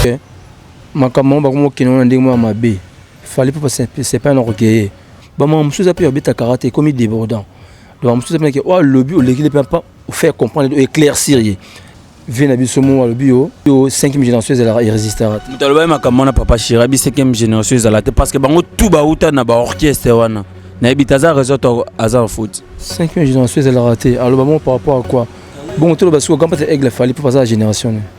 Eh, makambo yango bakomi kokende wana ndenge moko ya mabe fali mpo sepai na kokeye bamama mosusu eza mpe babeta karate ekomi débordant bamama mosusu eza mpe oyo oh, alobi olekile mpe mpa ofaire comprendre oyo éclaircir ye vie na biso moko alobi yo yo 5e génération ezalaka irrésistara te moto alobaki makambo wana papa shira bi 5e génération ezala te parce que bango tout bauta na baorchestre wana nayebi te aza raison to aza na faute 5e génération ezalaka te aloba moko par rapport à quoi bongo toloba sikoyo gampate aigle fali mpo baza na génération ne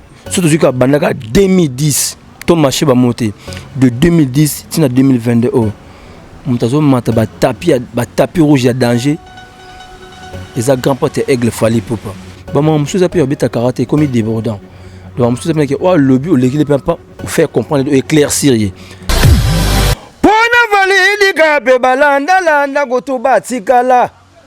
soki tozwi kaka banda kaka 2010 to marché bamoo te de 2010 ntina 2022 oyo moto azomata batapi rouge ya danger eza grand pote ya aigle fali popa bamama mosusu eza mpe babeta karate ekomi débordant donc mosusu eza mpe nake oyo alobi oleki le mpe mpa ofaire comprendre oyo éclaircir ye mpo na validika mpe balandalanda kutu batikala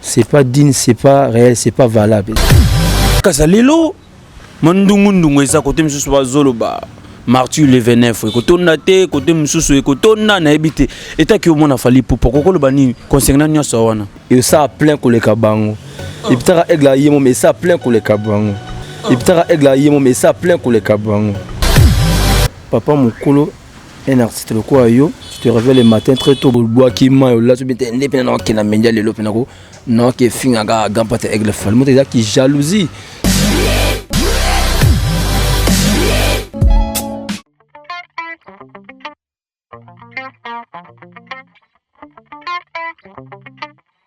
c'est pas digne c'est pas réel c'est pas valable kasa lelo mandungundu eza kote mosusu bazoloba martyr le 29 ekotonda te kote mosusu ekotonda nayebi te etaki omona fali pupa kokoloba nini concernant nyonso wana esaa plein koleka bango oh. epitaka aigle aye mom esaa plein koleka bango oh. epitaka aigle aye mom esaa plein koleka bango papa mokolo un artiste lokola yo tu te réveilles le matin très tôt bobwaki mai olati obi te nde mpena nakokenda mendia lelo mpe nako nakoki efinga kaka grand pate aigle fali moto eza ki jalousie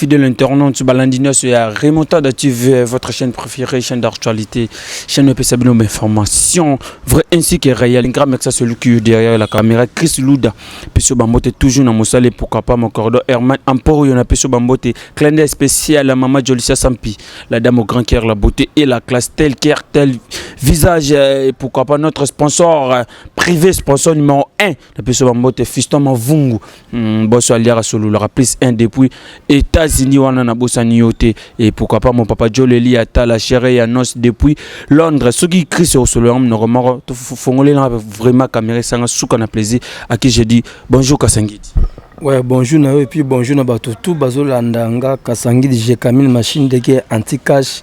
fidèle internaute balandi nyonso ya remontada tv votre chaîne préférée chaîne d'actualité chaîne epesa bino bainformation vrai ainsi que réel grand mec ça celui qui est derrière la caméra chris luda peso bambote toujours na mosala et pourquoi pas mon cordo herman emporio na peso bambote clin d'œil spécial à mama jolisia sampi la dame au grand cœur la beauté et la classe tel cœur tel visage et pourquoi pas notre sponsor privé sponsor numéro 1 na biso bambote fiston mavungu mm, boso aliaka sololaka plus 1 depuis états-unis wana nabosani yo te et pourquoi pas mon papa joleli ata la chere ya nos depuis londres soki chris osololaka monoko moko tofongolelanga vraiment camera esanga suka na plaisir à qui je dis bonjour kasangidi Ouais, bonjour na yo et puis bonjour na bato tout bazolanda nga kasangidi je camille machine ndeke anti-cash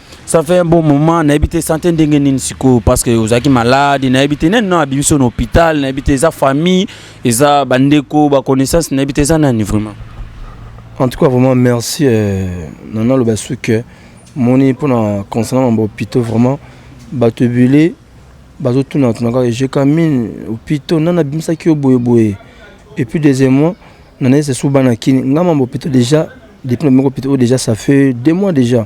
ça fait un bon moment nayebi te sante ndenge nini sikoyo parce que ozalaki malade nayebi te nani no abimi so na hôpital nayebi te eza famille eza bandeko baconnaissance nayebi te eza nani vraiment en tout cas vraiment merci euh, nana aloba su que moni mpona concernant mambo hôpitaux vraiment bato ebele bazotuna tuna kaka ejeka mine hôpitaux nani abimisaki yo boyeboye et puis deuxièmement nana ese su bana kini ngai mambo hôpitaux déjà depuis na meko hôpitaux oyo déjà ça fait deux mois déjà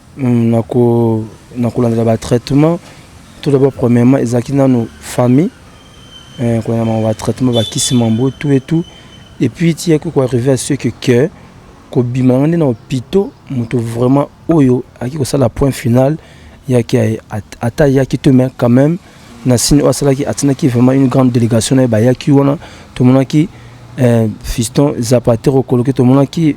na kolandela ba traitement tout d'abord premièrement ezalaki nano famille eh, kolanda bango ba traitement bakisi mambo tout et tout et puis tiyaki koarrive à ce que que kobima nanga nde na hôpitaux moto vraiment oyo ayaki kosala point final yaki ata yaki te mais quand même na sini oyo asalaki atinaki vraiment une grande délégation na ye bayaki wana tomonaki eh, fiston zapatero koloki tomonaki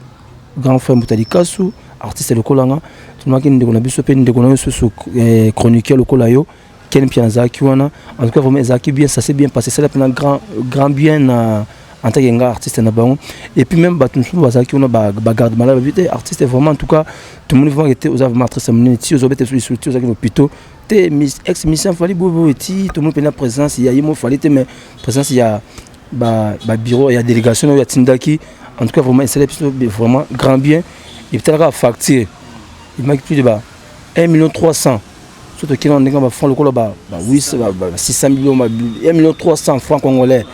Grand frère Mbuta Likasu, artiste lokola nga, tunaki ndeko na biso pe ndeko na yo susu eh, chroniqueur lokola yo, Ken Mpiana azalaki wana. En tout cas vraiment ezalaki bien, ça s'est bien passé, sala pena grand grand bien na en tant que nga artiste na bango. Et puis même batu mususu bazalaki wana ba ba garde malade ba vite artiste vraiment en tout cas tout le monde vraiment était aux vraiment artiste munene ti ozo bete sur ti ozaki hôpitaux te ex mission fallait bobo ti tout le monde pena présence ya yemo fallait te mais présence ya ba ba bureau ya délégation oyo atindaki en tout cas vraiment esala biso vraiment grand bien ebitalaka facture ebimaki plus de ba 1 million 300 so tokende na ndenge ya bafranc lokola ba 600 million 1 million 300 franc congolais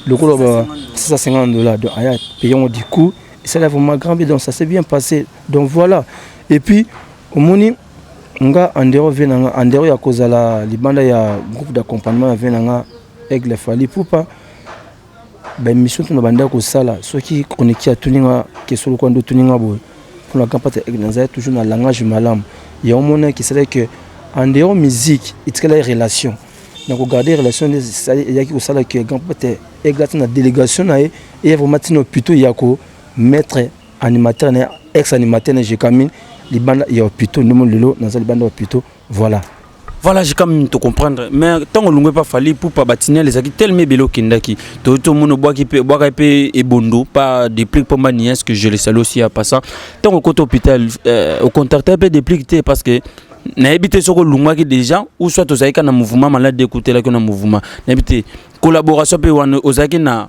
lokola ba 650 dollars donc aya paye yango du coup esala vraiment grand bien donc ça s'est bien passé donc voilà et puis omoni nga andero vie na nga andero ya kozala libanda ya groupe d'accompagnement ya vie na nga Aigle Fally Ipupa ba émission tuna banda kosala soki chroniqueur atuni nga kesolo kwa ndo tuni nga boye mpona grand pate aigle nazali toujours na langage malamu ya omona que cela que en dehors musique etikala relation na kogarde relation nde eyaki kosala que grand pate aigle ata na délégation na ye eya vraiment ntina plutôt ya ko mettre animateur na ex animateur na jekamine libanda ya hopitaux nde moni lelo naza libanda ya hopitaux Voilà. Voilà, j'ai quand même te comprendre. Mais tant que l'on pas fallu pour pas bâtir les acquis tellement bello kindaki. Tout le monde boit qui peut boire et et bondo pas des plics pour ma nièce que je les salue aussi à passant. Tant au côté hôpital, euh, au contact un peu des plics parce que nayebi te soki olungaki déjà ou soit ozalaki ka na mouvement malade ekoutelaki na mouvement nayebi te collaboration mpe wana ozalaki na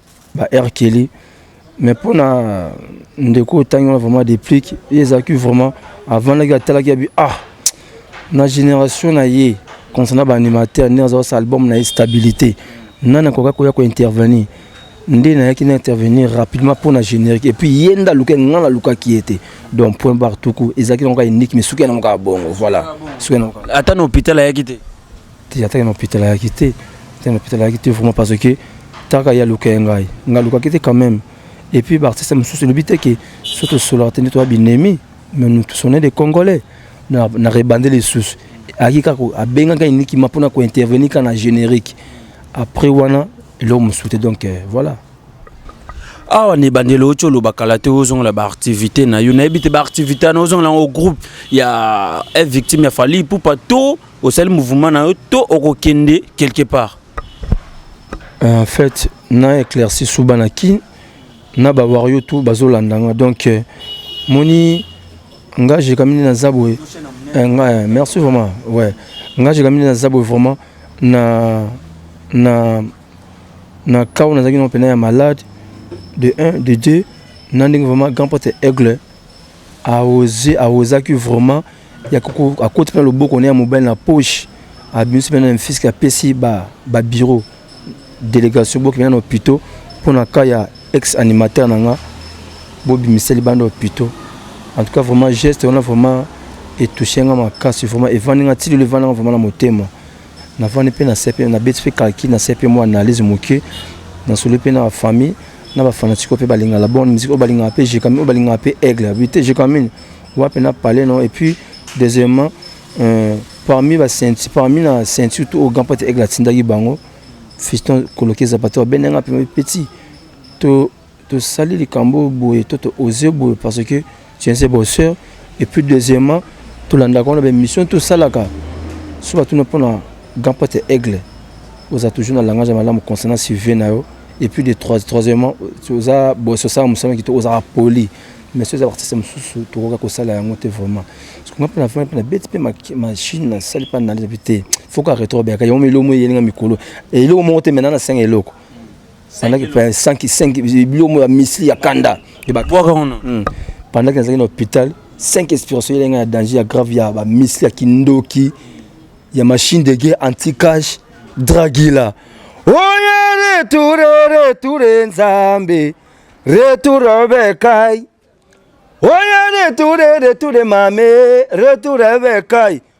ba R Kelly mais mpo na ndeko oyo otangi wana vraiment deplique ye ezalaki vraiment avandaki atalaki yabi ah na génération na ye concernant ba animateur nde aza kosala album na ye stabilité nani akoka koya kointervenir nde nayaki na intervenir rapidement mpo na générique et puis ye nde aluka ngai nalukaki ye te donc point bar tuku ezalaki nango kaka unique mais suki yango kaka bongo voilà suki yango ata na hôpital ayaki te te atake na hôpital ayaki te te na hôpital ayaki te vraiment parce que taka ya luka ngai ngai lukaki te quand même et puis baartiste mosusu elobi te ke so tosolaka te nde toya binemi mais nous tous on est des congolais na rebande lisusu ayaki kaka abengaka enikima mpona kointervenir kaka na générique après wana eloko mosusu te donc euh, voilà awa na ebandeli oti oloba kala te ozongola baactivité na yo nayebi te baactivité wana ozongola yango groupe ya eh, victime ya fali ipupa to osali mouvement na yo to okokende quelque part euh, en fait na éclairci suba na kin na bawario tout bazolanda nga donc euh, moni nga jekamini naza boye euh, nga merci vraiment ouais nga jekamini naza boye vraiment na na na cas oyo nazalaki nao mpena ya malade de 1 de 2 na ndenge vraiment grand pote aigle A oser, a ozaki vraiment ya ko akoti pe na loboko ne ya mobali na poche, abimisi pe na mfisk apesi ba ba bureaux delegation bo kende na hopitaux po na cas ya ex animateur na nga bo bimisa libanda hopitaux. En tout cas vraiment geste wana vraiment e toucher nga makasi vraiment evandi nga ti lelo evanda nga vraiment na motema. navandi mpe nasepeli nabeti mpe kalki nasai mpe mwa analyse moke nasoli mpe na bafamille na bafanatike mpe balingaka la bonne musique oyo balingaka mpe jekami oyo balingaka mpe aigle abi te jekamine wapi na palais no et puis deuxièmement euh, parmi basenti parmi na ceinture to oyo gampate aigle atindaki bango fiston kolokeza bato babendanga mpe petit to Tosali likambo oyo boye to to oser boye parce que tu es un bosseur et puis deuxièmement tolandaka wana ba émission tosalaka so batuna mpona grand prêtre aigle oza toujours na langage ya malamu concernant suive na yo et puis de trois troisièmement oza boso osala mosala kito ozalaka poli mais so eza baartiste mosusu tokoka kosala yango te vraiment parce que nga mpe na vraiment mpe na beti mpe machine nasali mpe analyse mpe te faut ka retro beyaka yango eloko moko eyelinga mikolo eloko moko te maintenant nasenga eloko Nalaki pe 5 5 bilomo ya misli ya kanda et ba bwaka wana. Hmm. Pendant que nazalaki na hôpital, 5 expiration elenga ya danger ya grave ya ba misli ya kindoki ya machine de guerre anti-cash Dragila. Oye retour retour Nzambe. Retour Bekai. Oye retour retour Mame, retour Bekai.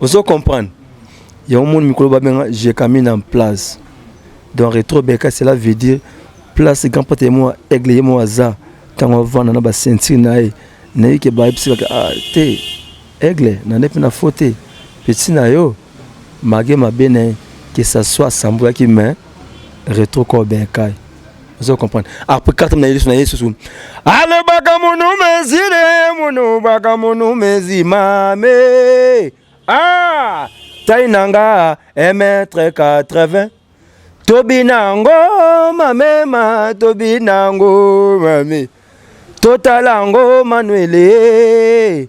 ozo comprendre yango moni mikolo babenga jekamina en place donc retro beka cela veut dire place grand prêtre ye moko aigle ye moko aza ntango avanda na basentire na ye nayebi ke bayebisaka ah, te aigle nande mpe na fo te peti na yo mage mabe na ye que ça soit asambwaki mais retro corps benkai ozo comprendre après carte na yesu na yesu ale baka munu mezire munu baka munu mezi mame ah tai nanga emetre 80 tobi nango mamema tobi nango mame totala ngo manuele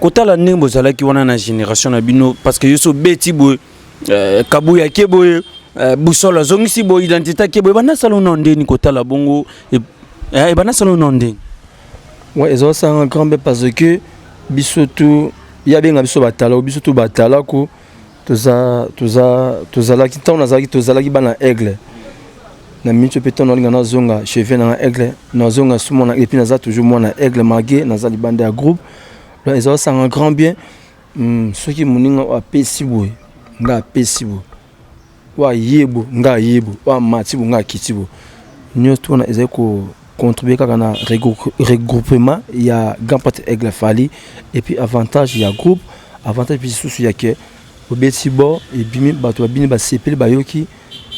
kotala ndenge bozalaki wana na génération na bino parce que yo so beti boye euh, kabuya ke boye euh, busolo azongisi boye identité ke boye banda sala na ndeni kotala bongo eh, ebanda sala na ndeni ouais ezosanga grand be parce que biso tu ya benga biso batala biso tu batala ko toza toza tozalaki ntango nazalaki tozalaki bana aigle na minso mpe ntango nalinga nazonga chevie nanga aigle nazonga su mwana epuis naza toujours mwana aigle malgre naza libanda ya groupe donc eza osanga grand bien hmm, soki moninga oyo apesi boye nga apesi boye oyo aye bo nga aye bo oyo amati bo nga akiti bo nyonso tuna ezali ko contribuer kaka na regroupement ya grand prêtre Aigle Fally et puis avantage ya groupe avantage puis sous ya que obeti bo et bimi bato babini basepeli bayoki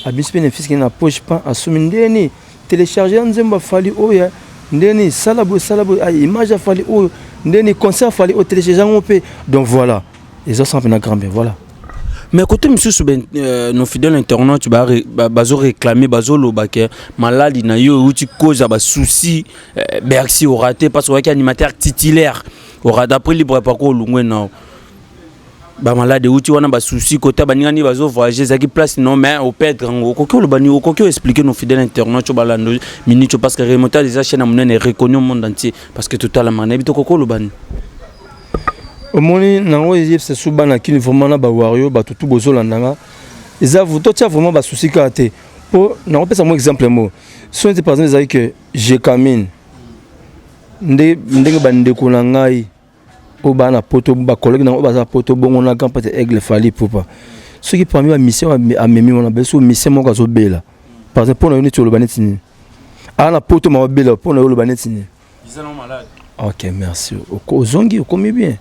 abisi pe na fiski na poche pan asumi ndeni télécharger nzembo ya Fally oyo oh ndeni sala boye sala boye ah, image ya Fally oyo oh, ndeni concert Fally oyo oh, télécharger yango pe donc voilà eza sans pena grand bien voilà mais côté mosusu ben, euh, nos fidèles internautes bazo réclamer bazoloba ke maladi na yo euti cause ya basouci euh, bercy orate parce oyaki animateur titulaire orate après libre parcours olungwe nao bamalade euti wana basusi kota baninga nini bazovoyage ezalaki place non mais opedre yango okoki oloba nini okoki oexplike nos fidèle internaute oyo balando minute parce que remontage eza chaîne ya monene reconnu au monde entier parce que totalamaka nayebi tokoki oloba nini omoni nango eyebisa su bana kini vraiment na bawario bato tu bozolanda nga eza totia vraiment basusi kaka te mpo nakopesa mwa exemple mo so neti par exemple ezali ke jecamine nde ndenge bandeko na ngai oyo baa na poto bacollege nango oyo baza poto bongo na grand pate aigle fali pupa soki parmi bamisien amemi wana beso misien moko azobela par exemple mpo na yo neti oloba neti nini aa na poto mababela mpo na yo oloba neti nini Biza na malade. Ok, merci. Ozongi, okomi bien.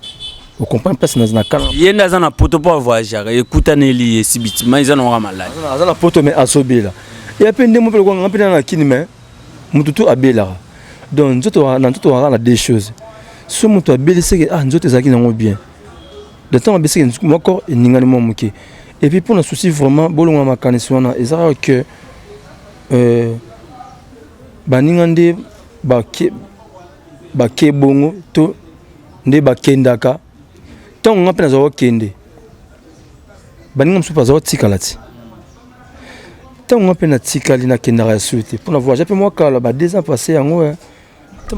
Au comprendre place na zana kala. Yenda zana poto po voyager, ekuta neli esi bitima iza na malade. Azana poto mais asobela. Et après ndemo pe ko ngapena na kini mais mutu tu abela. Donc nzoto na nzoto wa na deux choses. So mutu abeli seke ah nzoto ezaki na ngo bien. De temps abesi ke nzoto moko eningani mo muke. Et puis pour na souci vraiment bolonga makanisi wana ezaka que euh baninga nde bake bake bongo to nde bakendaka ntango nga mpe nazala kokende baninga mosusu mpe azala kotikala ti ntango nga mpe natikali nakendaka ya sute mpo na voyage mpe mwa kala ba deux ans passé yango eh.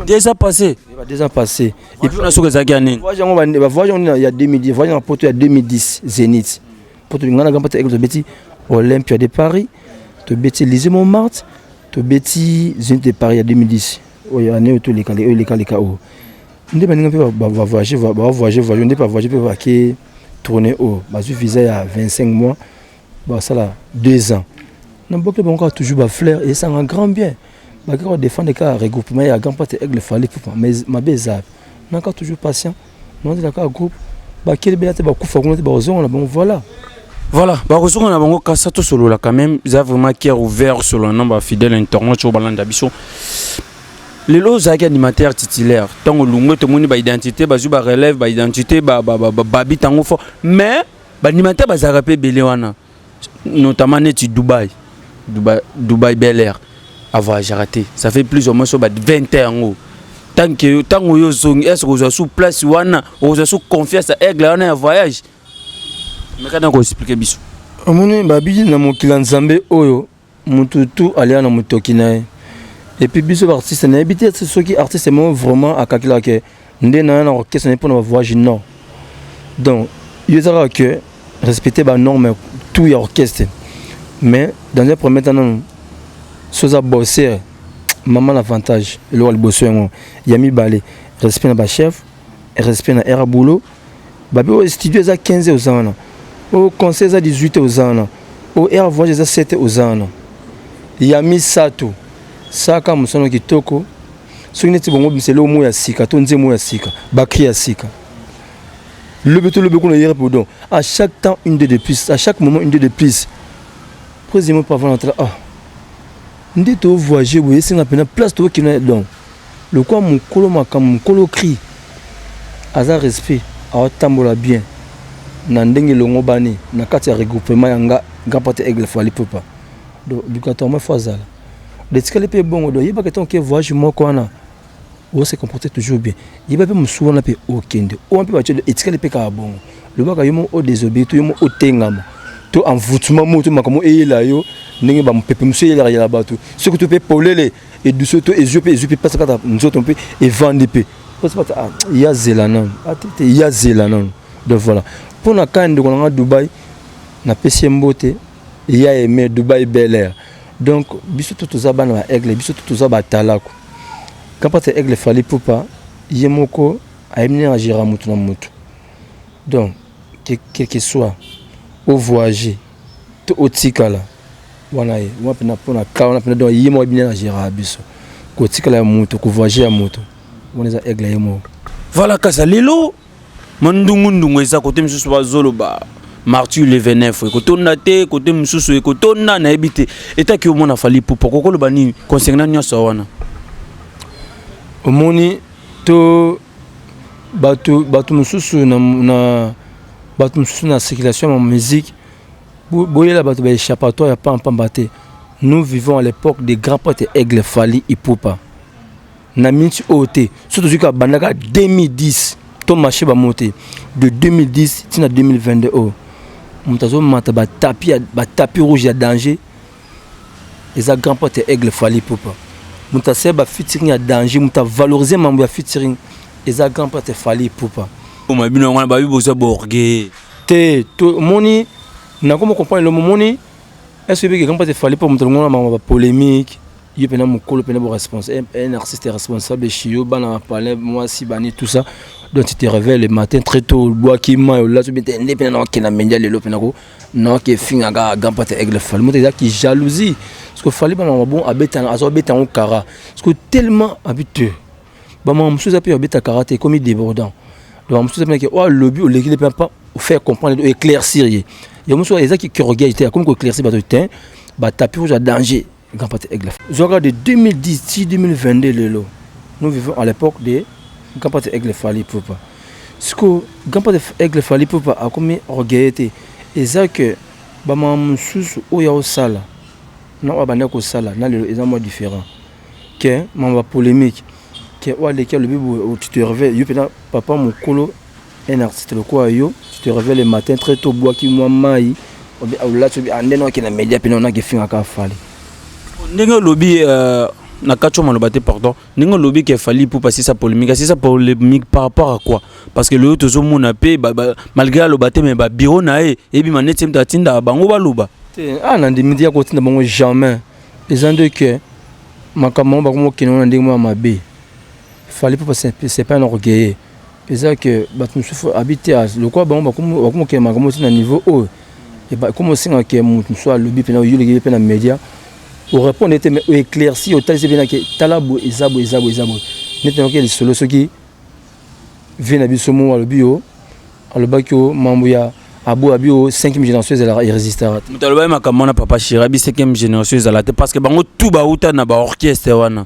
deux ans passé ba deux ans passé et puis na soki ezalaki ya nini voyage yango ba voyage yango ya 2010 voyage na poto ya 2010 Zenith poto ngana gamba ta ekolo beti Olympia de Paris to beti Lycée Montmartre tobeti zenith de paris ya 2010 oyo année oyo toleka oyo eleka leka oyo nde baninga mpe bavoyage bavoyage voyage nde bavoyage mpe bake tourne oyo bazwi visa ya 25 mois basala 2 ans na bokeli bango kaka toujours bafleur esanga grand bien bakeka kodefendre kaka regroupement ya grand pate aigle fali pupa mais mabe eza nakaka toujours patient Nazala kaka groupe bakeli bela te bakufa kuna te bakozonga na bango voilà voilà bakozonga na bango kasa tosolola quand même eza vraiment cœur ouvert solola na bafidèle internaute oyo balanda biso lelo ozalaki animateur titulaire ntango olungwe tomoni baidentité bazwi barelève baidentité babi ntango fort mais baanimateur bazalaka mpe ebele wana notamment neti dubai dubai, dubai bel air avoyageaka te ça fait plus ou moins so ba 20 ans yango tant que yo ntango yo ozongi est ce que ozwa sous place wana ozwa sous confiance ya aigle wana ya voyage mekana koexplike biso omoni babiki na mokili ya nzambe oyo mutu tu alia na mutoki na ye et puis biso ba artiste na yebi te soki artiste mo vraiment akakila ke nde na na orchestre na pona ba voyage non donc yo ezaka que respecter ba norme tout ya orchestre mais dans un premier temps non soza bosser maman l'avantage eloko liboso yango ya mibale respect na ba chef respect na era boulot Babi oyo studio eza 15 oza wana oyo conseil eza 18 oza wana oyo air voyage eza 7 oza wana ya misato saka mosano kitoko soki neti bongo bimisa eloko moko ya sika to nzembo ya sika bakri ya sika lobi to lobi kuna yere podon à chaque temps une de de plus à chaque moment une de de plus président pavana ah Nde to voyage boye esenga pena place to kina donc lokwa mukolo makambo mukolo cri aza respect aotambola bien na ndenge elongobani na kati ya regroupement ya nga grand pate aigle fo alipupa donc obligatoirement fo azala detikali mpe ebongo donc yebaka ntango ke voyage moko wana ozo se comporter toujours bien yeba pe mosusu wana pe okende oyo mpe batye etikali mpe kaka bongo lobaka yo moko odesobeye to yo moko otengama to envoutment moko to makambo eyela yo ndenge bamopepe mosusu eyelaka yela bato soki to mpe polele eduso to ezwi mpe ezwi mpe mpasi kaka nzoto mpe evandi mpe mpasi bata ah, ya zela nanu atete ah, ya zela nanu donc voilà mpo na kani ndeko na ngai dubai napesi ye mbote ya aime dubai bel air donc biso tout toza bana ba aigle biso tout toza batalaku kapata aigle fali pupa ye moko ayebi ndenge agera motu na motu donc quelque soit ovoyage to otikala wana ye wana mpena mpona ka wana mpena donc ye moko ayebi ndenge agera biso kotikala ya moto kovoyage ya moto wana eza aigle ye moko voilà kasa lelo mandungu ndungu eza kote mosusu bazoloba martyr le 29 ekotonda te kote mosusu ekotonda nayebi te etaki omona fali pupa kokoloba nini concernant nyonso wana omoni to bato bato mosusu na, na bato mosusu na circulation ya musique boyela bato baéchappatoire ya pampamba te nous vivons à l'époque des grands prêtres aigle fali ipupa na minti oyo te so tozwi kaka banda kaka 2010 to marché bamo te de 2010 ntina 2022 oyo moto azomata batapi batapi rouge ya danger eza grand pote ya aigle fali popa moto asali bafitiring ya danger moto avalorize mambo ya fitiring eza grand pote fali popa oma bino yango wana babi boza borge te tomoni nakoma comprendre lomo moni est ce que ebeke grand pote fali popa moto alongona mambo ya bapolémique yo pena mukolo pena bo responsable un artiste responsable chez yo bana palais moi si bani tout ça donc tu te réveilles le matin très tôt bois qui mayo là tu bete nde pena na kena mendia lelo pena ko na ke finga ga gampa te aigle fal moto ya ki jalousie parce que fallait bana bon abeta azo beta on kara parce que tellement habitué ba ma mususu ape abeta kara te comme débordant donc mususu ape ke oh lobby au légile pas faire comprendre éclaircir ye ya mususu ezaki ki orgueil te comme ko éclaircir ba te ba tapis rouge à danger Grand Prêtre Aigle. Zwaka de 2010 ti 2022 lelo. Nous vivons à l'époque de Grand Prêtre Aigle Fally Poupa. Siko Grand Prêtre Aigle Fally Poupa akomi orgueilleux te. Eza que ba maman mususu oyo ya osala na oyo banda kosala na lelo eza mwa différent. Que maman ba polemique que oyo aleki alobi boye otitorve yo pena papa mukolo Un artiste lokola yo, tu te reveille le matin très tot obwaki mwa mayi, olati obi ande noki na media pena onaki finga ka fali. Ndenge olobi euh, na kacho maloba te pardon. Ndenge olobi ke fali pour passer sa polemique, c'est sa polemique par rapport à quoi? Parce que le tozo mona pe ba, ba, malgré aloba te mais ba bureau na ye ebi maneti mta tinda bango baloba. Te, ah na ndimi dia ko tinda bango jamais. Eza nde que makambo bango bakoma okende na ndenge mwa mabe. Fali pour passer c'est pas un orgueilleux. eza que bato mosusu abi te lokola bango bakomokela makambo ti na niveau oyo ekoma osenga ke moto mosusu alobi mpena oyoleki ye mpe na média orépondre ye te mais oéclairci otalisi ye mpenake tala boye eza boye eza boye eza boye neti nayoki ya lisolo soki vie na biso mo alobi yo alobaki yo mambo ya aboya abi yo 5e génération ezalaka irésistara te moto alobaki makambo wana papa shirabi 5e génération ezala te parce que bango tout bauta na baorchestre wana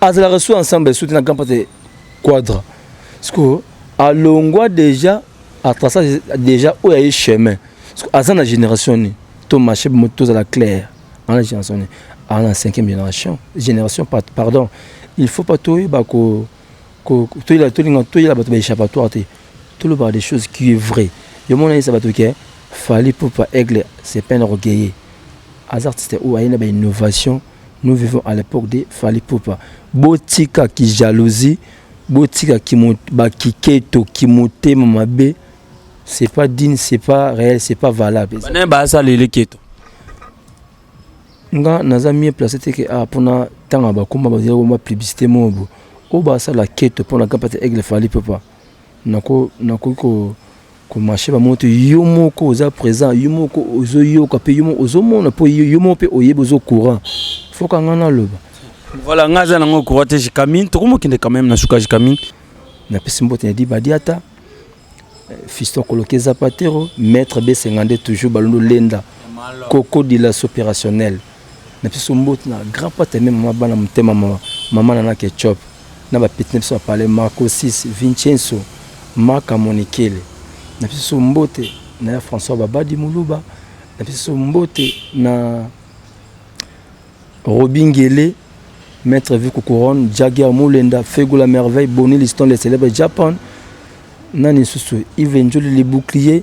azalaka su ensemble su te na grand pate quadra siko alongwa déjà atrasa déjà oyo aye chemin siko aza na génération nini to marché moto tozala claire ana génération nini aza na cinquième génération génération pardon il faut pas toyeba ko toyela tolinga toyela bato ba échappatoire te tolobaka des choses qui est vrai yo mona yesa bato ke fali pupa aigle c'est pas un orgueilleux aza artiste oyo aye na ba innovation Nous vivons à l'époque de Fally Poupa. Botika ki jalousie, botika ki ba kiketo, ki motema mabe. C'est pas digne, c'est pas réel, c'est pas valable. Bana ba sa lele keto. Nga naza mieux placé te que ah pona tanga ba komba ba zero ba publicité mobo. O ba sa la keto pona kapata aigle Fally Poupa. Nako nako ko ko marcher ba moto yo moko oza present yo moko ozo yoka pe yo moko ozo mona po yo moko pe oyebi ozo courant faut ka nga na loba voilà nga za nango courant te jikamine toko mokende quand même na suka jikamine na pesi mbote na di badiata eh, fiston koloke zapatero maître besengande toujours balondo lenda coco dilas opérationnel na biso mbote na grand pate meme mwa bana motema mawa mama na na ketchup na ba petit na biso apale Marco 6 Vincenzo Maka Monikele na biso mbote na ya François Babadi Muluba na biso mbote na Robingele Maître Viku Couronne Jagger Mulenda Fego la Merveille Bonnie Liston le célèbre Japan nani susu Yves Njoli le bouclier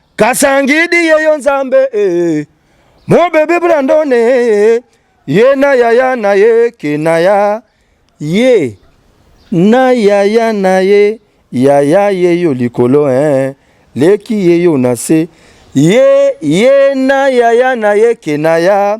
Kasangidi yeyo nzambe eh. Mon bébé Brandon eh. Ye na yaya na ye kenaya ye na yaya na ye yaya yeyo likolo eh. Leki yeyo na se ye ye na yaya na ye kenaya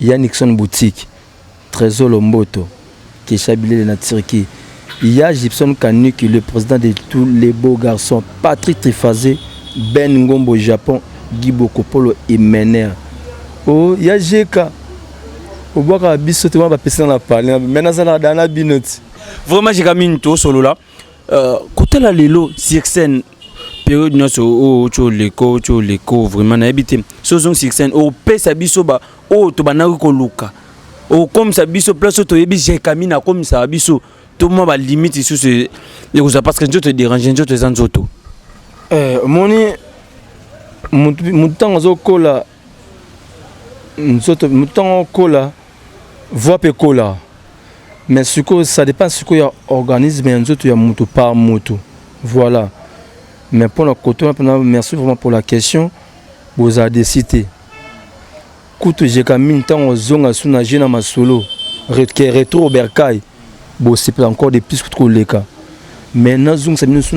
Ya Nixon boutique, Tresor Lomboto, Kesha Bilele na Turquie, Ya Gibson Kanuki le president de tous les beaux garçons, Patrick Trifaze, Ben Ngombo Japon, Guy Bokopolo Emener. Oh Ya JK, obwakaka biso te wana bapesi nga na palais, mais nazalaka da na bino ti. Vraiment JK mingi tosolola. Euh, kotala lelo sirsen periode nyonso oyo otyo oleko otyo oleko vraiment nayebi te so ozongi sirsen opesa biso ba oyo tobandaki koluka okomisa biso place oyo toyebi jekami na akomisaka biso to mwa balimite lisusu e, ekozala parce que nzoto edérange nzoto eza nzoto eh, omoni motu ntango azokola nzoto motu ntango okola Voix pe kola. Mais sikoyo ça dépend sikoyo ya organisme ya nzoto ya mutu par mutu. Voilà. Mais pona koto na pona merci vraiment pour la question. Boza desi te. Kutu jeka mingi tango zonga suna je na masolo. Retke retro berkai. bosepela encore de plus kutu koleka mais nazongisa bino so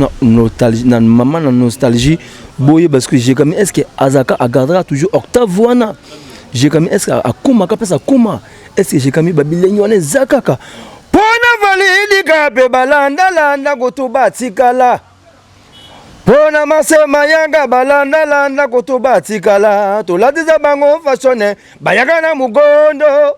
na mama na nostalgie boyeba ce que jekami est ce que azalaka agardaka toujours octave wana jekami est ce que akomaka place akoma est ce que jekami babilengi wana eza kaka mpo na validika mpe balandalanda kutu batikala mpo na masema yanga balandalanda kutu batikala tolatisa bango fashone bayaka na mogondo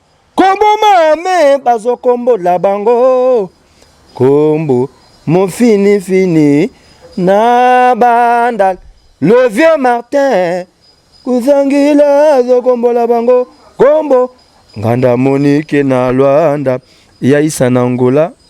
Koboma me bazo kombo la bango kombo mon fini fini na bandal le vieux Martin kuzangila azo kombo la bango kombo nganda monike na Luanda ya isa na Angola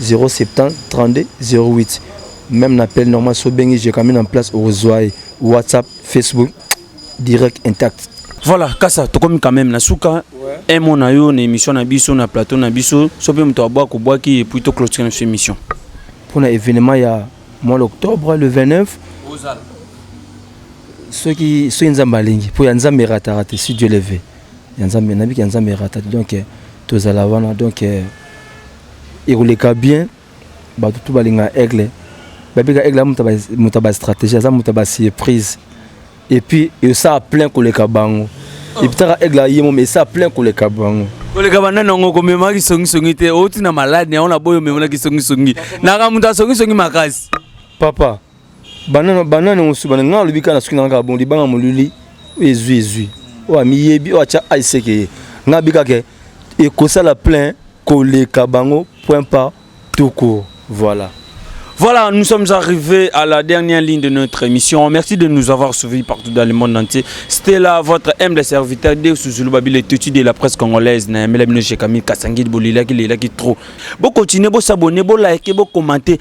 070 32 08 meme na appel normal so obengi jekamine en place okozwa ye whatsapp facebook direct intact voilà kasa tokomi quand même na suka un mot na yo na émission na biso na plateau na biso so mpe moto abwaki obwaki epuis to clôture na biso émission mpo na événement ya mois d'octobre le 29 soki soki nzambe alingi mpo ya nzambe erataka te si dieu leve ya nzambe nabiki ya nzambe erata te donc tozala wana donc Ekoleka bien batu tout balinga aigle babika aigle muta ba stratégie aza muta ba surprise et puis esa plein koleka bango oh. epitaka aigle yemo mais esa plein koleka bango koleka banda nango komema kisongisongi te outi na malade yango na boyo omemona kisongisongi naka moto asongisongi makasi papa banana banana mosusu bana nga alobi kaka soki nanga bon libanga molili oyo ezwi ezwi oyo amiyebi oyo atya aiseke ye nga abi kaka ekosala plein koleka bango point pas tout court voilà Voilà, nous sommes arrivés à la dernière ligne de notre émission. Merci de nous avoir suivis partout dans le monde entier. C'était là votre humble serviteur de Souzoulou Babile Tutu de la presse congolaise. Naemela Mino Shekami, Kassangid Bolila, qui est là, qui est trop. Bon, continuez, bon, s'abonner, bon, liker, bon, commenter.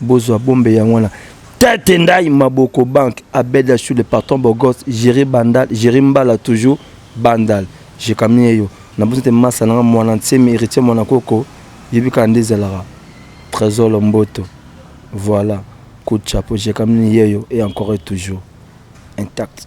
Bozwa bombe yango wana. Tete Ndai Maboko Banque, Abed Achou le patron Bogos, Jerry Bandal, Jerry Mbala toujours, Bandal. Je kamie yo. Na bosi te masa nanga mwana nsemi héritier mwana koko. Yebi kaka nde ezalaka. Trésor Lomboto. Voilà. Coup de chapeau, je kamie yeyo et encore et toujours. Intact.